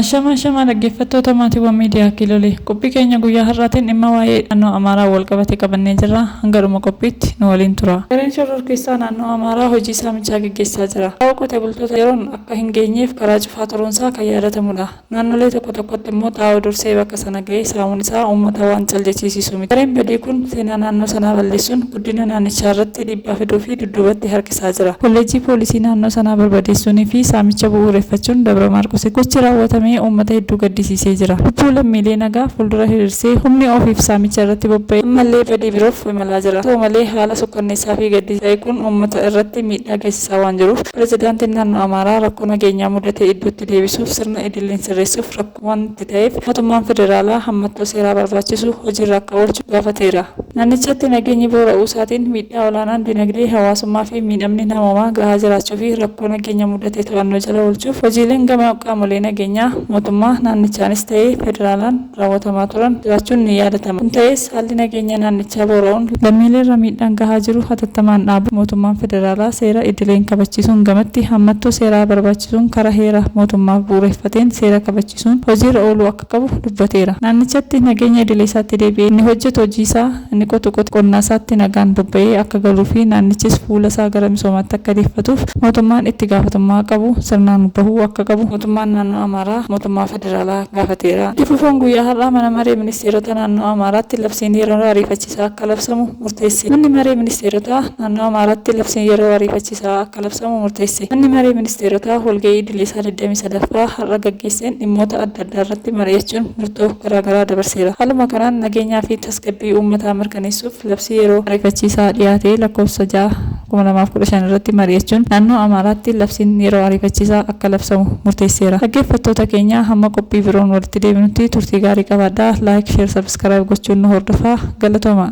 Ashamaa ashamaa dhaggeeffattoota maatiiwwan miidiyaa Kiilolee. Qophii keenya guyyaa har'aatiin dhimma waa'ee hidhannoo Amaaraan walqabate qabannee jirra. Hanga dhuma qophiitti nu waliin turaa. Gareen shororkeessaa naannoo Amaaraa hojii saamichaa geggeessaa jira. Qa'oo qotee bultoota yeroon akka hin geenyeef karaa cufaa turuunsaa kan yaadatamudha. Naannolee tokko tokkotti immoo xaa'oo dursee bakka sana ga'ee saamuun isaa uummata waan cal jechiisiisu miti. Gareen badii kun seenaa naannoo sanaa balleessuun, guddina naannichaa irratti dhiibbaa fiduu fi dudduubatti harkisaa jira. Kolleejjii Poolisii naannoo sanaa barbadeessuunii fi saamicha bu'uureffachuun Dabra Maarqositti gochi raawwatame uummata hedduu gaddisiisee jira. Lubbuu lammiilee nagaa fuuldura hiriirsee humni ofiif saamicha irratti bobba'e ammallee badii biroof imalaa jira. Haa ta'u malee haala sukkanneessaa fi gaddisaa ta'e kun uummata irratti miidhaa geessisaa waan jiruuf Pirezidaantiin Naannoo Amaaraa rakkoo nageenyaa mudate iddootti deebisuuf sirna idilleen sirreessuuf rakkoo waanti ta'eef mootummaan federaalaa hammattoo seeraa barbaachisu hojiirra akka oolchu gaafateera. Naannichatti nageenyi boora'uusaatiin miidhaa olaanaan dinagdee, hawaasummaafi miidhamni namoomaa gahaa jiraachuufi rakkoo nageenya mudate to'annoo jala oolchuuf hojiileen gama qaamolee nageenyaa mootummaa naannichaanis ta'ee federaalaan raawwatamaa turan jiraachuun ni yaadatama. Kun ta'ees. Haalli nageenya naannichaa boora'uun lammiileerra miidhaan gahaa jiru hatattamaan dhaabuuf mootummaan federaalaa seera idileen kabachiisuun gamatti hammattoo seeraa barbaachisuun karaa heera mootummaaf bu'uureffateen seera kabachiisuun hojiirra ooluu akka qabu dubbateera. Naannichatti nageenya idileesaatti deebi'ee inni hojjetu hojiisaa, inni qotu qotee qonnaasaatti nagaan bobba'ee akka galuufi naannichis fuulasaa gara misoomaatti akka deeffatuuf mootummaan ittigaafatamummaa qabu sirnaan bahuu akka qabu mootummaan naannoo Amaaraa mootummaa Federaalaa gaafateera. Itti fufuun guyyaa har'aa Mana Maree Ministeerota Naannoo Amaaraatti labsiin yeroo ariifachisaa akka labsamu murteesse. Manni Maree Ministeerotaa Naannoo Amaaraatti labsiin yeroo ariifachisaa akka labsamu murteesse. Manni Maree Ministeerotaa walga'ii idileesaa 23ffaa har'a gaggeesseen dhimmoota adda addaarratti mari'achuun murtoo garaagaraa dabarseera. Haaluma kanaan nageenyaa fi tasgabbii uummataa mirkaneessuuf labsii yeroo ariifachiisaa dhiyaate lakkoofsa 6. 2015 irratti mari'achuun naannoo Amaaraatti labsiin yeroo ariifachiisaa akka labsamu murteesseera. Dhaggeeffattoota keenya hamma qophii biroon walitti deebinutti turtii gaarii qabaadhaa. Like, Share, Subscribe gochuun nu hordofaa. Galatoomaa!